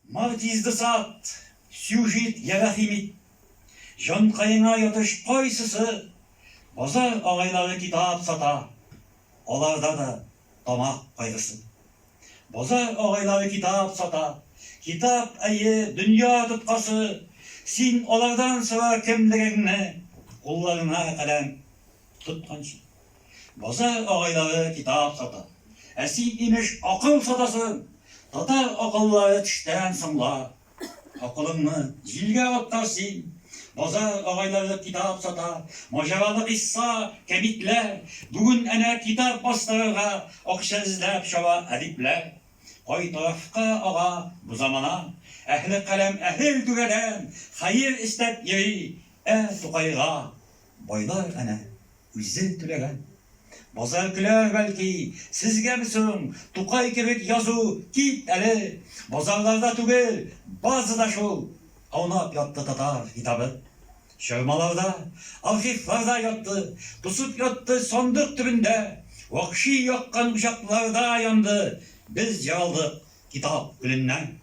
Макть изде сат, сюжит я рәхим ит, Җанкаеңа ятыш кайсысы? Базар агайлары китап сата, Аларда да тамак кайгысы. Базар агайлары китап сата, Китап, әйе, дөнья тоткасы. Син алардан сора кемлегеңне, Кулларыңа каләм тотканчы. Базар агайлары китап сата. Ә син, имеш, акыл сатасың! Татар акыллары төштән соңла. Акылыңны җилгә атта син! Базар агайлары китап сата. Маҗаралы кыйсса, кәбитләр. Бүген әнә китап бастырырга акча эзләп чаба әдипләр. Кай тарафка ага бу замана? Әһле каләм әһел түбәдән хәер эстәп йөри, ә Тукайга, байлар әнә, Үзең түләгән. Базар көләр, бәлки, Сезгәме соң, Тукай кебек язу, Кит әле! Базарларда түгел, Базада шул! Аунап ятты татар китабы. Чормаларда, архивларда ятты, Тосып ятты сандык төбендә. Вакши яккан учакларда янды, Без җаралдык китап көненнән.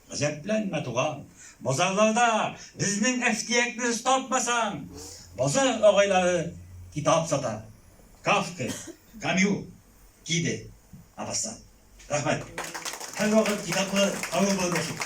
Гаҗәпләнмә, туган, базарларда безнең әфтиякне очтартмасаң! Базар агайлары китап сата. Кафка, Камю, Киде, Мапассан. Рәхмәт. Һәрвакыт китаплы авыл булып яшик!